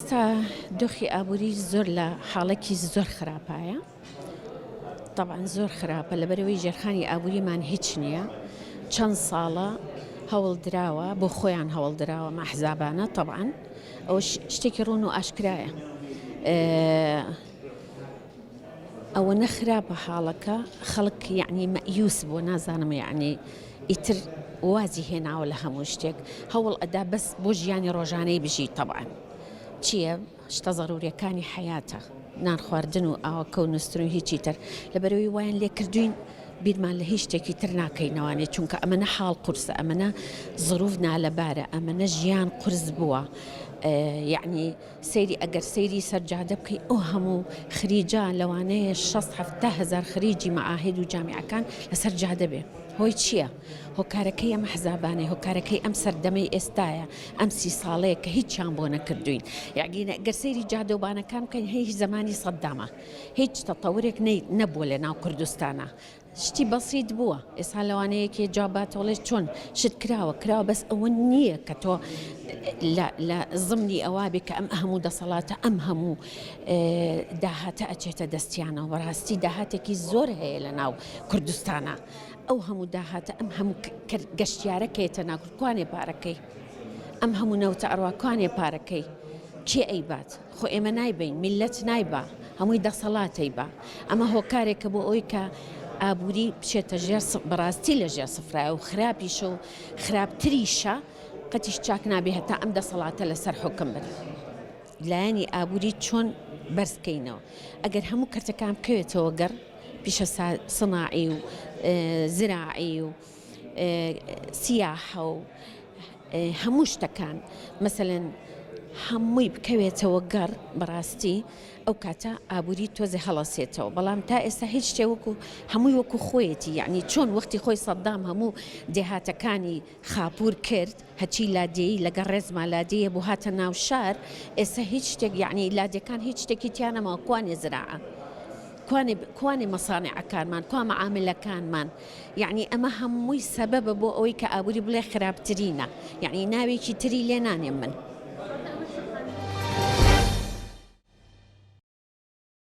ئێستا دۆخی ئابووری زۆر لە حاڵەکی زۆر خراپایە طبعاان زۆر خراپە لە بەرەوەی ژێرخانی ئابووریمان هیچ نییە چەند ساڵە هەوڵ دراوە بۆ خۆیان هەوڵ دراوە مەحزابانە طبعاان ئەو شتێکی ڕوون و ئاشکرایە ئەوەنە خراپە حاڵەکە خەڵک یعنی مەئیوس بووە نازانم یعنی ئیتر وازی هێناوە لە هەموو شتێک هەوڵ ئەدا بەس بۆ ژیانی ڕۆژانەی بژی تەبعاان چییە شتە زەرورەکانی حیاتە نان خواردن و ئاوەکە و نووسن و هیچی تر لە بەرەوەی وایان لێکردوین بیرمان لە هیچ شتێکی تر ناکەینەوانێ چونکە ئەمەە حاڵ قورسە ئەمەە زروف نالەبارە ئەمەە ژیان قرس بووە یعنی سەیری ئەگەر سەیری سەر جادە بکەی ئەو هەموو خریجە لەوانەیە شەست حەفتا هەزار خریجی مەعاهید و جامیعەکان لەسەر جادە بێ هۆی چییە؟ هۆکارەکەی ئەم حزابانەی هۆکارەکەی ئەم سەردەمەی ئێستایە ئەم سی ساڵەیە کە هیچیان بۆ نەکردوین یاگینە گەر سەیری جادە و بانەکان بکەین هەیه زمانی سەددامە هیچ تەتەورێک نەبووە لە ناو کوردستانە شتی بەسیت بووە ئێستا لەوانەیە کێ جواب باتەوە وڵێ چۆن شت کراوە کراوە بەس ئەوە نییە کە تۆ لە زمنی ئەوا بێ کە ئەم هەموو دەسەڵاتە ئەم هەموو داهاتە ئەچێتە دەستیانەوە بەڕاستی داهاتێکی زۆر هەیە لە ناو کوردستانە ئەو هەموو داهاتە ئەم هەموو گەشتیارەکەێتە ناکوانێ پارەکەی ئەم هەموو نەوتە ئەڕواکوانێ پارەکەی کێ ئەیبات خۆ ئێمە نایبەین میللەت نایبا هەمووی دەسەڵاتەیبا ئەمە هۆکارێکە بۆ ئەوەی کە ئابووری بچێتە ژێر بەڕاستی لە ژێر سفرایە و خراپیشە و خراپتریشە قەتیش چاک نابێ هەتا ئەم دەسەڵاتە لەسەر حکم بن لایەنی ئابووری چۆن بەرزکەینەوە ئەگەر هەموو کەرتەکان بکەوێتەوە گەڕ پیشە سناعی و زراعی و سیاحە و هەموو شتەکان مەسەلەن هەمووی بکەوێتەوە گەڕ بەڕاستی ئەو کاتە ئابووری تۆزێ هەڵەسێتەوە بەڵام تا ئێستا هیچ شتێ وەکو هەمووی وەکو خۆیەتی یعنی چۆن وەختی خۆی سەددام هەموو دێهاتەکانی خاپور کرد هەچی لادێی لەگە ڕێزما لادەیە بۆ هاتە ناو شار ئێستا هیچ شتێک یعنی لادێکان هیچ شتێکی تیانەما کوانێ زراعە کوانێ کوانێ مەسانعەکانمان کوا مەعاملەکانمان یەعنی ئەمە هەمووی سەبەبە بۆ ئەوەی کە ئابووری بڵێ خراپترینە یەعنی ناوێکی تری لێ نانێم من.